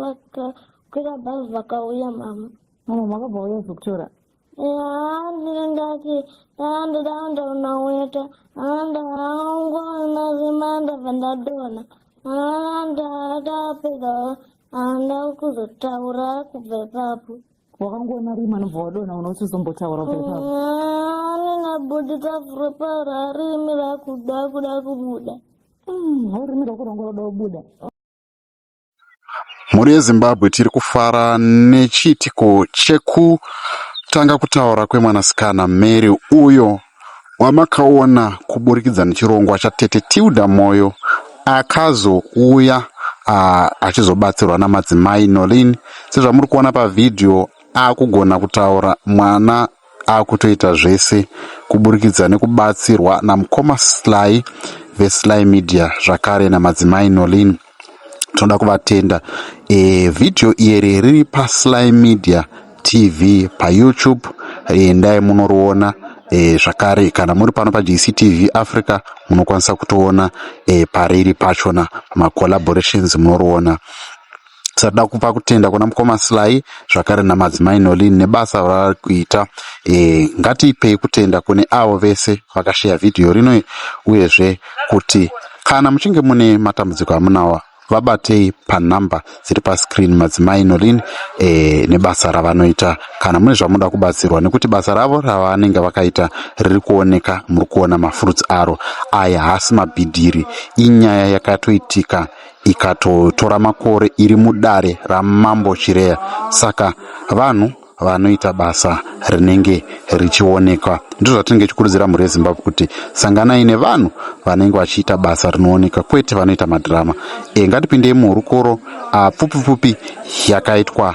vakakwira bhazi vakauya mama mama makabva uya zokutora yaa ndinenge ati yaa ndoda andaona weta anda haungo nazima ndabva ndadona anda ndapedza anda kuzotaura kubva ipapo wakangoona rima anobva wadona unosiuzombotaura kubva ipapo anenabudisa furo pararimi rakuda kuda kubuda haurimi rakurongoroda kubuda Mhuri yeZimbabwe tiri kufara nechiitiko chekutanga kutaura kwemwanasikana Mary uyo wamakaona kuburikidza nechirongwa chaTete Tilda Moyo akazouya ah, achizobatsirwa namadzimai Nolin sezvamuri kuona pavhidhiyo akugona kutaura mwana akutoita zvese kuburikidza nekubatsirwa namukoma Sly veSly Media zvakare namadzimai Nolin tinoda kuvatenda e, video iri riri paSly Media TV paYouTube endai munoriona e, zvakare kana muri pano paJCTV Africa munokwanisa kutoona e, pariri pachona macollaborations munoriona Tisada kupa kutenda kuna mukoma Sly zvakare namadzimai Nolin nebasa ravari kuita. E, ngatiipei kutenda kune avo vese vakasheya vhidhiyo rino uyezve kuti kana muchinge mune matambudziko amunawa vabatei panhamba dziri pascreen madzimai Nolin e, nebasa ravanoita kana mune zvamunoda kubatsirwa nekuti basa ravo ravanenge vakaita riri kuoneka muri kuona mafruits aro aya haasi mabhidhiri inyaya yakatoitika ikatotora makore iri mudare ramambo Chireya saka vanhu vanoita basa rinenge richionekwa ndozvatinenge tichikurudzira mhuri yezimbabwe kuti sanganai nevanhu vanenge vachiita basa rinooneka kwete vanoita madhirama e ngatipindei muhurukuro apfupipfupi yakaitwa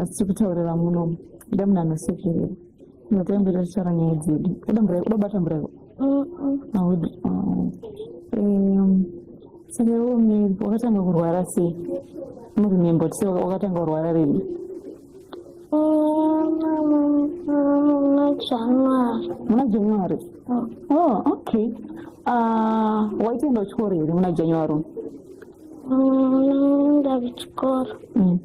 asi tiri kutaurira muno ida munhu anosekerera notoyambira tichara nyaya dzedu uda mvura uda kubata mvura ivo audi saka iwo miri wakatanga kurwara sei murimembo tise wakatanga kurwara rini muna january oh okay ah, waitoenda uchikoro here muna january unoenda mm, kuchikoro mm.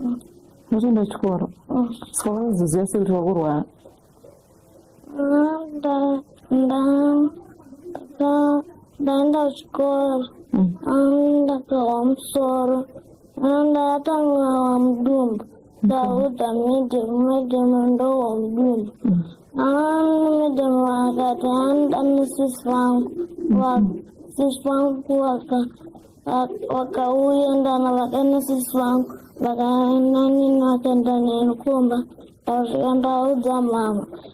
mm. unotoenda kuchikoro saka unozoziva sei kuti wakurwara ndaenda kuchikoro ndakawa musoro Manda yatanga wa mdumbu. Sauda middle middle ndo wa mdumbu. Aani middle wakati anda ni sis wangu. Wa sis wangu waka wakauya ndana vakaenda sis wangu vakaenda nini vakaenda nenikumba ndasvika ndaudza mama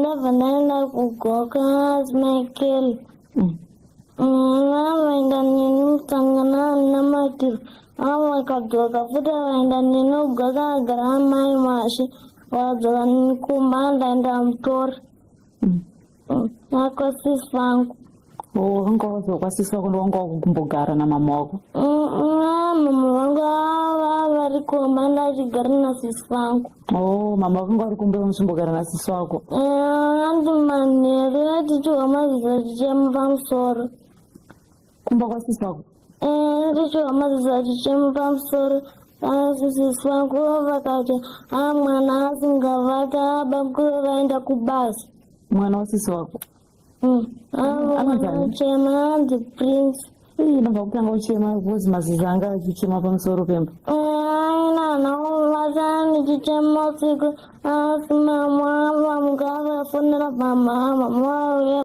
ndabva ndaenda kugoka smichael vavaenda neni musangana namatiro avo vakadzoka futi vaenda neni ugoka agara amai mashe vakadzoka kumba ndaenda mutori akosisi vangu wanga wazokwanisiswa kuti wanga wakumbogara namama wako mama vangu vari kumba ndachigara nasisi vangu o mama vakanga vari kumba vamuchimbogara nasisi wako anzi manheru atichiwa maziza chichema pamusoro kumba kwasisi wako atichiwa maziza chichema pamusoro asisisi vangu vakati a mwana asingavati abamkuru vaenda kubasa mwana wasisi wako Hmm. Ah, anachema hanzi prince ii banga kutanga uchema because mazizi anga achichema pamusoro pemba nanauvaza ndichichema usiku asi mama vamuka vafonera pamama mauya